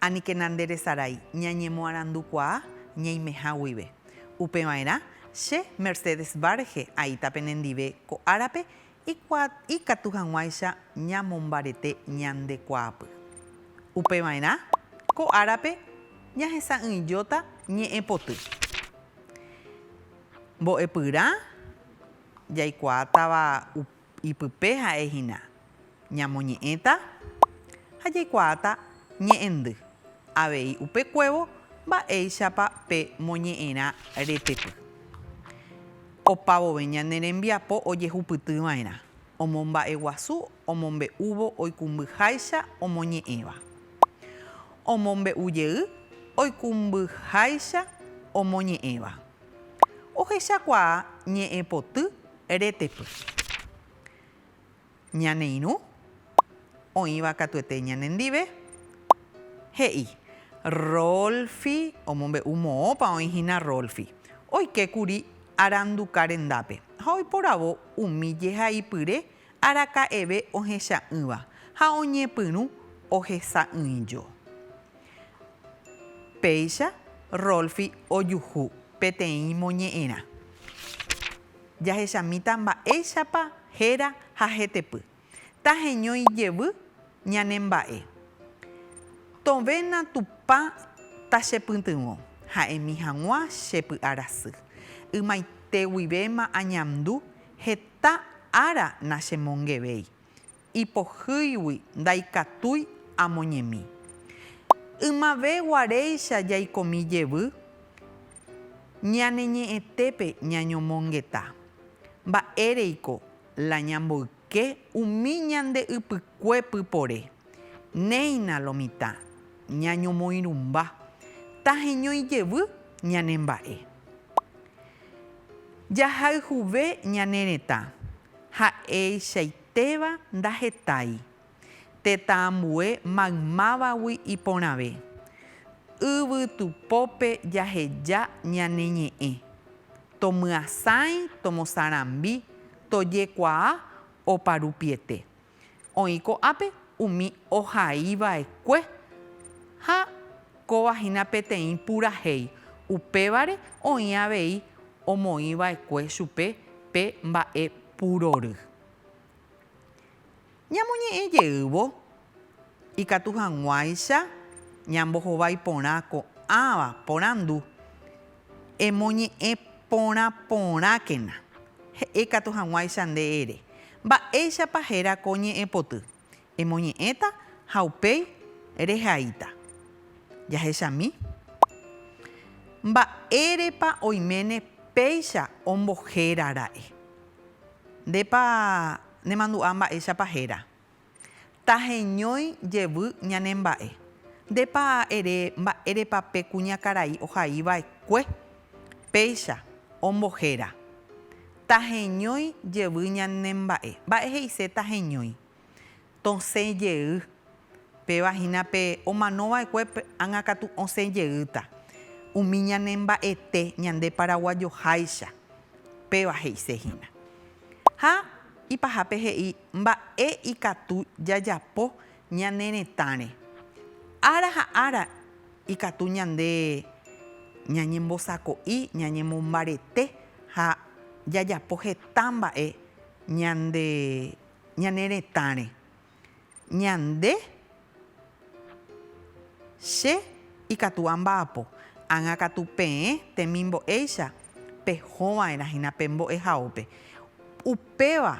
Aníkena nde resarái ñañemoarandukuaa ñaimeha guive. Upeva'erã, che Mercedes Varge aíta penendive ko árape ikatu hag̃uáicha ñamombarete ñande kuaapy. Upeva'erã, ko árape ñahesa'ỹijóta ñe'ẽpoty. Mbo'epyrã jaikuaátava Ipype ha'e hína ñamoñe'ẽta ha jaikuaáta ñe'ẽndy avei upekuévo mba'éichapa pe moñe'ẽrã retepy. Opa vove ñane rembiapo ojehupyty va'erã omomba'eguasu omombe'úvo oikumbyháicha omoñe'ẽva. Omombe'u jey oikumbyháicha omoñe'ẽva. Ohechakuaa ñe'ẽpoty Retepy. Ñane irũ, oĩva katuete ñane ndive, he'i, Rolfi omombe'u moõpa oĩ hína Rolfi. Oike kuri aranduka rendápe ha oiporavo umi jehaipyre araka'eve ohecha'ỹva ha oñepyrũ ohesa'ỹijo. Péicha Rolfi ojuhu peteĩ moñe'ẽrã. Jahechamíta mba'éichapa héra ha hetepy. Taheño ijevy ñane mba'e. Tovena Tupã tachepytyvõ, ha'emi hag̃ua che py'arasy. Ymaite guivéma añandu, heta ára nachemongevéi. ipohýigui ndaikatúi amoñemi. Ymave guaréicha jaikomi jevy ñane ñe'ẽtépe ñañomongeta. Mba'éreiko la ñamboyke umi ñande ypykue pypore. Néina lo mitã, ñañomoirũmba, taheñói jevy ñane mba'e. Jahayhuve ñane retã, ha'eichaite. Téva ndahetái. Tetã ambue maymávagui iporãve. Yvytu pópe jaheja ñane ñe'ẽ. Tomyasãi, tomosarambi, tojekuaa oparupiete. Oĩ ko'ápe umi ohaiva'ekue ha Kóva hína peteĩ purahéi, upévare oĩ avei omoĩ va'ekue chupe pe mba'e purory. Ñamoñe'ẽ jeývo, ikatu hag̃uáicha ñambohovái porã ko'ãva porandu, Emoñe'ẽ porã porãkena, he'e katu hag̃uáicha nde ere, Mba'éichapa héra ko ñe'ẽpoty? Emoñe'ẽta ha upéi rehaíta. Jahechami. Mba'érepa oiméne péicha ombohéra ra'e? Ndépa nemandu'a mba'éichapa héra. Taheñói jevy ñane mba'e. Ndépa ere mba'érepa pe kuñakarai ohaiva'ekue péicha ombohéra. Taheñói jevy ñane mba'e. Mba'e he'ise taheñói. Tosẽ jey. Péva hína pe omano va'ekue pe ág̃a katu osẽ jeýta. Umi ñane mba'ete ñande paraguajoháicha. Péva he'ise hína. Ha ipahápe he'i mba'e ikatu jajapo ñane retãre. Ára ha ára. Ikatu ñande ñañembosako'i, ñañemombarete ha jajapo heta mba'e ñande ñane retãre. Ñande, che ikatu amba'apo, ág̃a katu peẽ temimbo'éicha pehóva'erã hína pe mbo'ehaópe. Upéva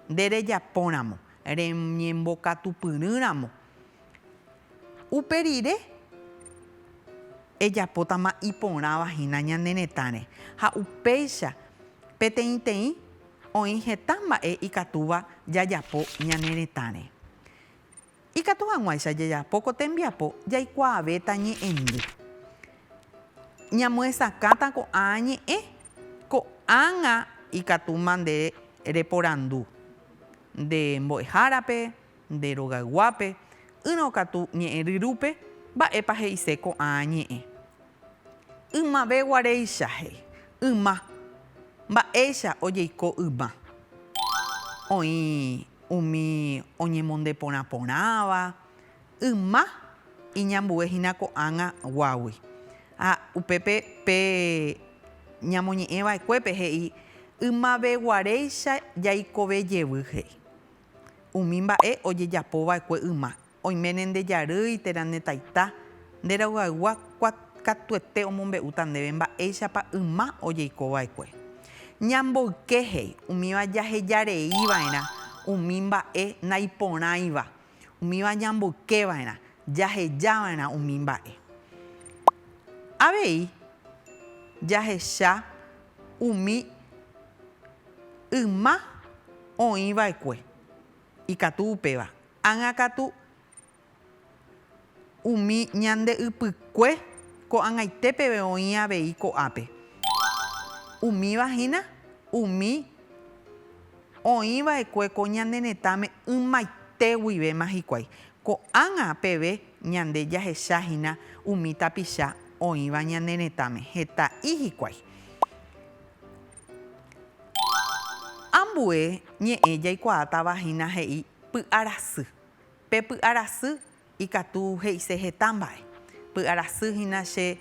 nde rejapóramo, reñembokatupyrỹramo Upe rire, ejapótama iporãva hína ñane retãre, ha upéicha peteĩteĩ oĩ heta mba'e ikatúva jajapo ñane retãre. Ikatu hag̃uáicha jajapo ko tembiapo jaikuaavéta ñe'ẽndy. Ñamyesakãta ko'ã ñe'ẽ, ko'ág̃a ikatúma nde reporandu nde mbo'ehárape, Nde rogayguápe, ỹrõ katu ñe'ẽ ryrúpe, mba'épa he'ise ko'ã ñe'ẽ. Ymave guaréicha he'i, yma. Mba'éicha ojeiko yma. Oĩ umi oñemonde porã porãva, yma iñambue hína ko'ág̃a guágui. Ha upépe pe ñamoñe'ẽ vaekuépe he'i, ymave guaréicha jaikove jevy he'i. Umi mba'e ojejapo va'ekue yma, oiméne nde jarýi térã ne taita, nde rayguaygua katuete omombe'úta ndéve mba'éichapa yma ojeiko va'ekue. Ñamboyke he'i umíva jaheja rei va'erã umi mba'e naiporãiva, umíva ñamboyke va'erã jaheja va'erã umi mba'e. Avei jahecha umi. yma oĩ va'ekue ikatu upéva, ág̃a katu umi ñande ypykue ko'ag̃aite peve oĩ avei ko'ápe. Umíva hína umi oĩ va'ekue ko ñane retãme ymaite guivéma hikuái. Ko'ág̃a peve ñande jahecha hína umi tapicha oĩva ñane retãme, heta'i hikuái. Ambue ñe'ẽ jaikuaátava hína he'i py'a rasy. Pe py'a rasy ikatu he'ise heta mba'e. Py'a rasy hína che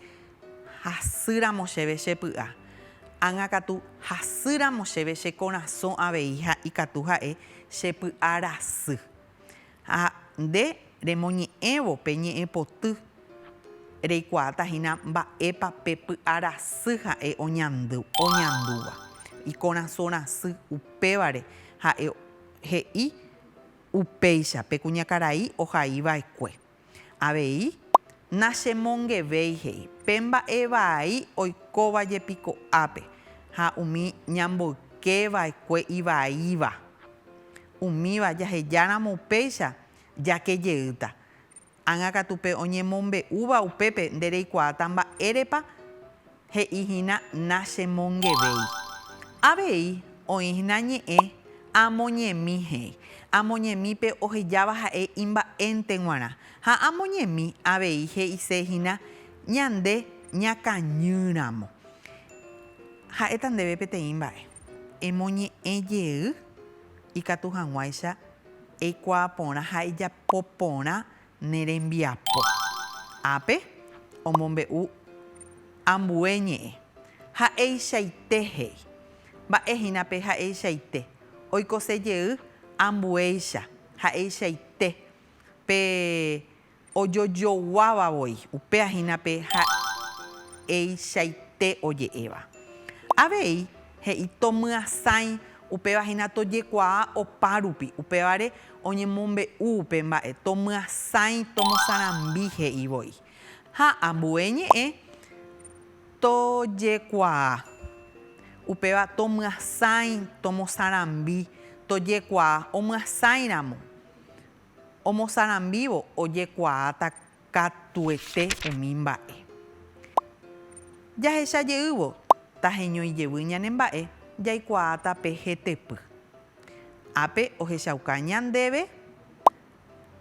hasy ramo chéve che py'a. Ág̃a katu hasy ramo chéve che korasõ avei ha ikatu ha'e che py'a rasy. Ha nde remoñe'ẽvo pe ñe'ẽpoty, reikuaáta hína mba'épa pe py'arasy ha'e oñandúva. Ikorasõ rasy upévare ha'e he'i upéicha pe kuñakarai ohaiva'ekue. Avei, nachemongevéi he'i, pe mba'e vai oikóva jepi ko'ápe, ha umi ñamboyke vaekue ivaíva. Umíva jaheja ramo upéicha, jake jeýta. Ág̃a katu pe oñemombe'úva upépe nde reikuaáta mba'érepa He'i hína nachemongevéi. Avei oĩ hína ñe'ẽ amoñemi he'i. Amoñemípe ohejáva ha'e imba'énte g̃uarã. Ha amoñemi avei he'ise hína ñande ñakañýramo. Ha'éta ndéve peteĩ mba'e. Emoñe'ẽ jey ikatu hag̃uáicha eikuaa porã ha ejapo porã ne rembiapo ápe omombe'u ambue ñe'ẽ, ha'eichaite he'i. Mba'e hína pe ha'eichaite, oikose jey ambuéicha, ha'eichaite pe ojojoguáva voi, upéva hína pe ha'eichaite oje'éva. Avei He'i, Tomyasãi, upéva hína tojekuaa opárupi. Upévare oñemombe'u upe mba'e, Tomyasãi, tomosarambi, he'i voi. Ha ambue ñe'ẽ, Tojekuaa. Upéva, Tomyasãi, tomosarambi, tojekuaa. Omyasãi ramo, omosarambívo, ojekuaáta. katuete umi mba'e. Jahecha jeývo taheñói jevy ñane mba'e, jaikuaáta pe hetepy. Ápe ohechauka ñandéve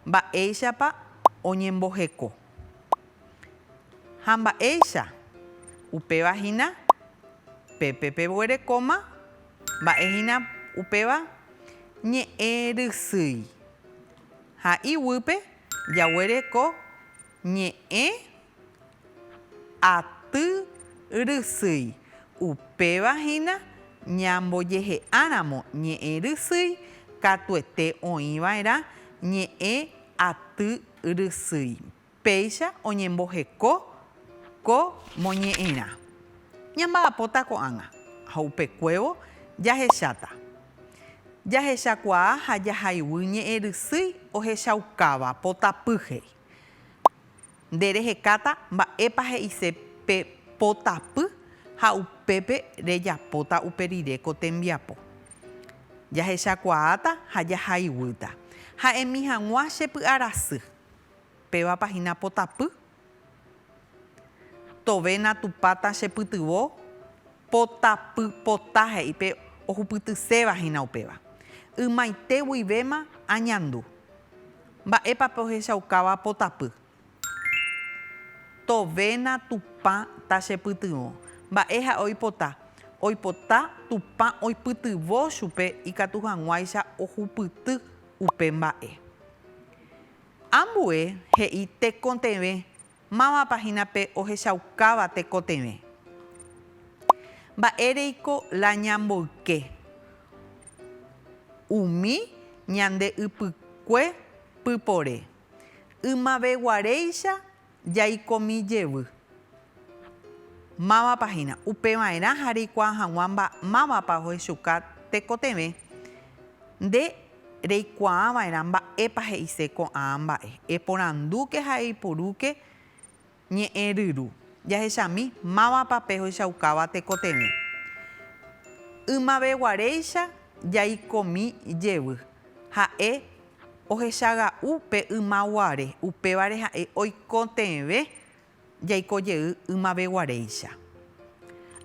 mba'éichapa oñemboheko. Ha mba'éicha, upéva hína pépe peguerekóma mba'e hína upéva ñe'ẽ rysýi. Ha iguýpe Jaguereko ñe'ẽ aty rysýi. Upéva hína ñambojehe'áramo ñe'ẽ rysýi katuete oĩ va'erã ñe'ẽ aty rysýi. Péicha oñemboheko Ko moñe'ẽrã ñamba'apóta ko'ág̃a, ha upekuévo jahecháta. Jahechakuaa ha jahayvy ñe'ẽ rysýi ohechaukáva potapy he'i. Nde rehekáta mba'épa he'ise pe potapy ha upépe rejapóta upe rire ko tembiapo. Jahechakuaáta ha jahayvýta. Ha'emi hag̃ua che py'arasy. Pévapa hína potapy Tove natupáta che pytyvõ potapy pota he'i pe ohupytyséva hína upéva. Ymaite guivéma añandu. Mba'épa pe ohechaukáva potapy. Tove natupã ta che pytyvõ. Mba'e ha'e oipota? Oipota Tupã oipytyvõ chupe ikatu hag̃uáicha ohupyty upe mba'e. Ambue he'i tekotevẽ mávapa hína pe ohechaukáva tekotevẽ. Mba'éreiko la ñamboyke umi ñande ypykue pypore, ymaveguaréicha Jaikomi jevy. Mávapa hína. Upeva'erã ha reikuaa hag̃ua mba, mávapa ohechuka tekotevẽ. Nde reikuaa va'erã mba'épa he'ise ko'ã mba'e. Eporandúke ha eipurúke ñe'ẽ ryru. Jahechami mávapa pehoichaukáva tekotevẽ. Ymaveguaréicha jaikomi jevy. Ha'e Ohechaga'u pe yma guare, upévare ha'e oikotevẽ jaiko jey ymaveguaréicha.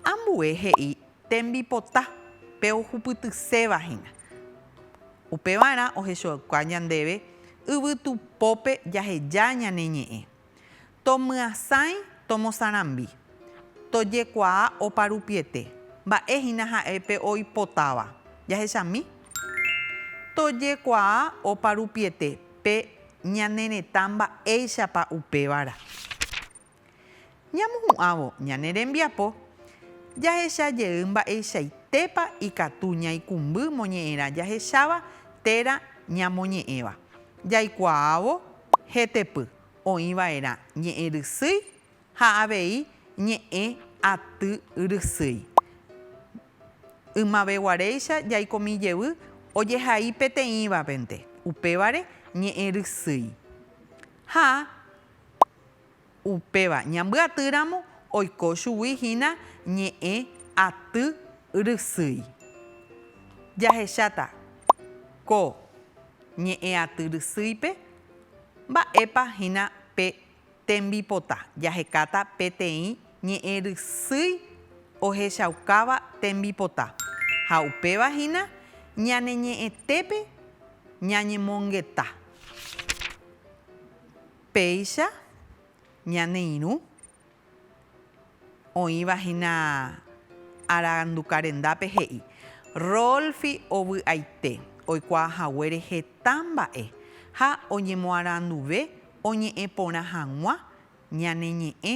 Ambue he'i tembipota pe ohupytyséva hína. Upevarã ohechauka ñandéve yvytupópe jaheja ñane ñe'ẽ. Tomyasãi tomosarambi. Tojekuaa oparupiete. Mba'e hína ha'e pe oipotáva. Jahechami? Tojekuaa oparupiete pe ñane retã mba'éichapa upévara. Ñamohu'ãvo ñane rembiapo, jahecha jey mba'eichaitépa ikatu ñaikumby moñe'ẽra jahecháva térã ñamoñe'ẽva. Jaikuaávo Hetepy, oĩ vaerã ñe'ẽ rysýi ha avei ñe'ẽ aty rysýi. Ymaveguaréicha jaikomi jevy ojehai peteĩvapente, upévare ñe'ẽ rysýi. Ha. Upéva ñambyaty ramo oiko chugui hína ñe'ẽ aty rysýi. Jahecháta ko ñe'ẽ aty rysýipe mba'épa hína pe tembipota, jahekáta peteĩ ñe'ẽ rysýi ohechaukáva tembipota ha upéva hína ñane ñe'ẽtépe ñañemongeta. Péicha ñane irũ oĩva hína aranduka rendápe he'i, Rolfi ovy'aite oikuaa haguére heta mba'e ha oñemoaranduve oñe'ẽ porã hag̃ua ñane ñe'ẽ